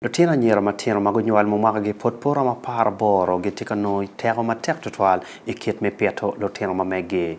Lutino anyira matino ma gunywal ma mwakagi pud pe oromo apar aboro gitye ka nongo teko matek tutwal i kit me pito lutino ma meggi.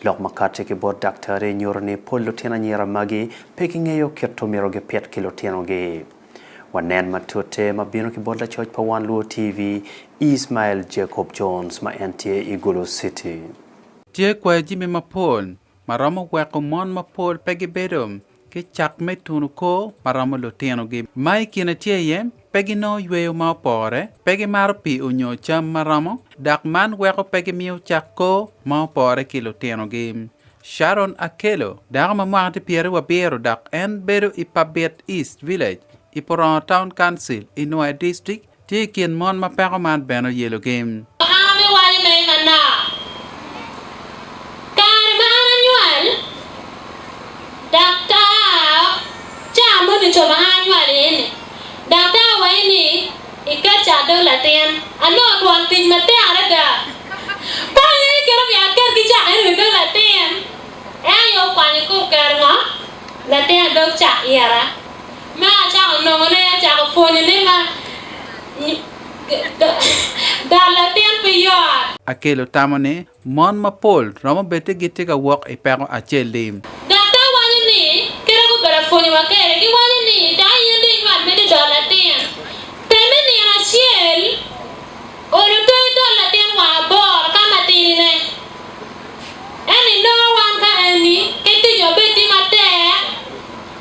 Lok ma kati ki bot daktari nyuto ni pol lutino anyira magi pe gingeyo kit omyero gipit ki lutinogi. Wanen matute ma bino ki bot lacoc pa Wan Luo TV, Ismael Jacob Jones ma en tye i Gulu City. Tye kwai jami mapol ma romo weko mon mapol pe gibedo ki cat me tunu kor ma romo lutinogi ma i kine tye iye pe ginongo yweyo ma opore, pe gimaro pii onyo cam ma romo, dok man weko pe gimiyo cak kor ma opore ki lutinogi. Sharon Akello, dako ma mwaka tye pyeri wa biro dok en bedo i Pabit East Village i Purongo Town Council i Nwoye District, Tye i kin mon ma peko man bene oyelogi. Aa me wale ma i Manoa. Kare ma an anywal, daktar, caa mo ducu ma an anywal iye-ni, daktar wayi ni ikeca adol latin. Anongo twon tic matek adada. Kony aye kit omyero aket ki cak eno i dog latin. En aye okwanyo ka oketo ngo? Latin adog cak ira. Ma acako nongone acako pwonyo ne ma dal latin pi Yoab. Akelo tamo ni mon mapol romo bedi gitye ka wok i peko acel i. Dok dong wanyo ni kite gubedo apwonyo wa kede gi wanyo ni dano yen dong inywat mede dal latin. Pe me nino acel olo toyo dal latin wa aboro ka ma tidi ne. Ento inongo wan ka eni kit tic wa bed tye matek.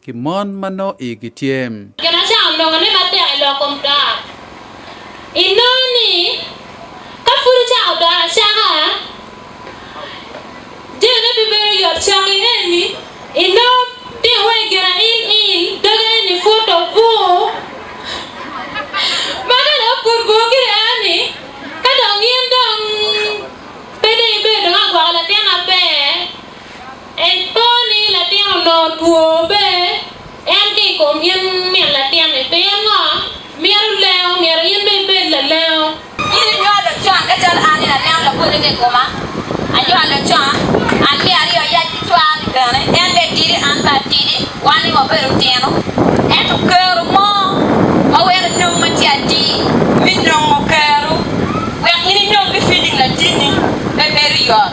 ki mon ma nongo igi tye. Gin acel onongo ni matek i lok kom dor. Inongo ni ka pud icako dor acaka, jone pe bedo yot coki eni inongo tiko wai girain in doge eni pud obur. Ma ka dong pud bur gire eni, ka dong in dong pe dong ibedo dong agwoko latin maber, Ento ni latin onongo two be en ki i kom in min latinni. Pingo? Mito lengo, myero in bene ibed lalengo. In inywalo con ka calo an ni lanengo labode ka i koma. Anywalo con, an me aryo ayac ki cwar-ri bene, en be tidi an be atidi, wan ni wabedo tino. Ento kero mo ma weko inong ma tye atir, mi nongo kero wek in inong ki filing latinni, pe bedo yot.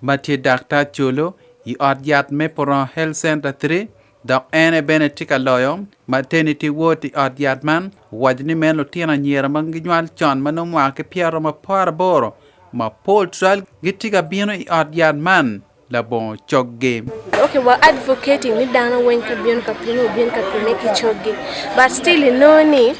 ma tye daktar culu i ot yat me Purong Health Center Three dok en aye bene tye ka loyo Maternity Ward i ot yat man, owaco ni meno lutino anyira ma ginywal con ma nongo mwaka ki pyeraryo maparaboro mapol twal gitye ka bino i ot yat man labongo coggi. Okay, wa advocating ni dano weng ka bino ka pimo, gibino ka pimme ki coggi, but still inongo ni.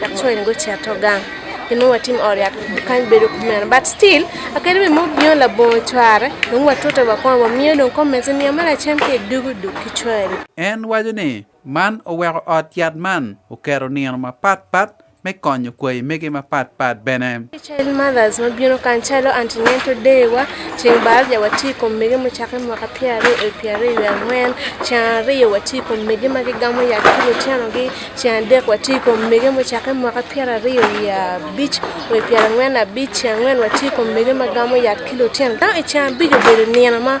That's why in go cito gang ki nongo watim ot yat kany bedo kumeno but still akeri wi mo bino labongo cware dong watute wa kong wamiyo dong comments ni niya me lacen ki idugu duk ki cwari. En waco ni man oweko ot yat man oketo nino mapat pat me konyo kwayi mege mapat pat bene. Child mothers ma bino kany calo antenatal day wa, ceng baraja watye i kom mege mucakke i mwaka pyera aryo oyo pyera aryo wiye angwen, ceng aryo watye i kom mege ma gigamo yat ki lutinogi, ceng adek watye i kom mege mucakke i mwaka pyera aryo wiye abic oyo pyera angwen abic, ceng angwen watye i kom mege ma gamo yat ki lutino dano i ceng abic obedo nino ma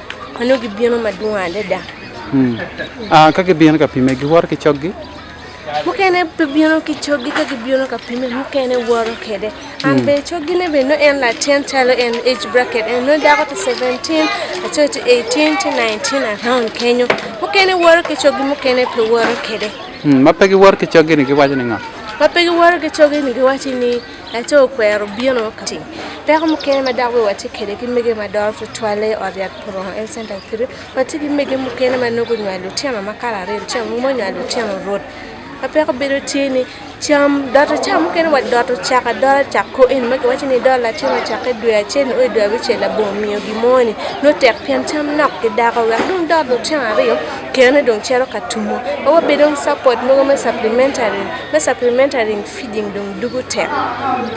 ma nongo gibino madwong adada. Hmm. Ah, ka gibino ka pime, giwoto ki coggi? Mukene pe bino ki coggi ka gibino ka pime, mukene woto kede. An hmm. be coggine be no en latin calo en age bracket, en no dako to 17, aco to 18 to 19 around kenyo. Mukene woto ki coggi, mukene pe woto kede. Hmm, ma pe giwoto ki coggi ni giwaco ni nga? Ma pe giwoto ki coggi ni giwaco ni Laco okwero bino ka tye ki tic. Peko mukene ma dok bene watye kwede ki mege ma doro tutwalle i ot yat Purongo Health Center Kitwe, watye ki mege mukene ma nongo gunywalo lutino ma kare aryo lutino mogo ma onywalo lutino rwod. Ma peko bedo tye ni cam doto caa mukene wa doto cak adola cak ko eni ma kiwaco ni idol latin ma cakke dwe acel nio i dwe abicel labongo miyo gin mo ni nongo tek pien cam nok ki dako wek dong dot lutino aryo kene dong cito ka tumo. Wa wabedo ki support mogo me supplementary me supplementary Feeding dong dugo tek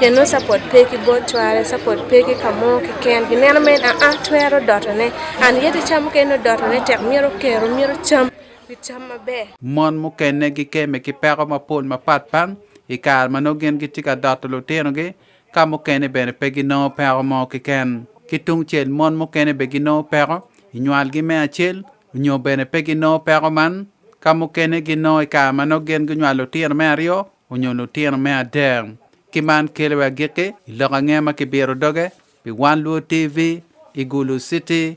keno support pe ki bot cware support pe ki kamo ki ken ki neno mere aa twero doto ne and yet icam mukene nongo doto ne tek myero kero myero cam ki cam maber. Mon mukene gi keme ki peko mapol mapat pat i kare ma nongo gin gitye ka doto lutino gi ka mukene bene pe gi nongo peko mo ki ken ki tung cel mon mukene be gi nongo peko inywal gi me acel Onyo bene pe ginongo peko man? Ka mukene ginongo i kare ma nongo gin gunywalo lutino me aryo onyo lutino me adek. Ki man kelo i agikki, i lok ange ma kibiro doge pi wan luo TV i Gulu City?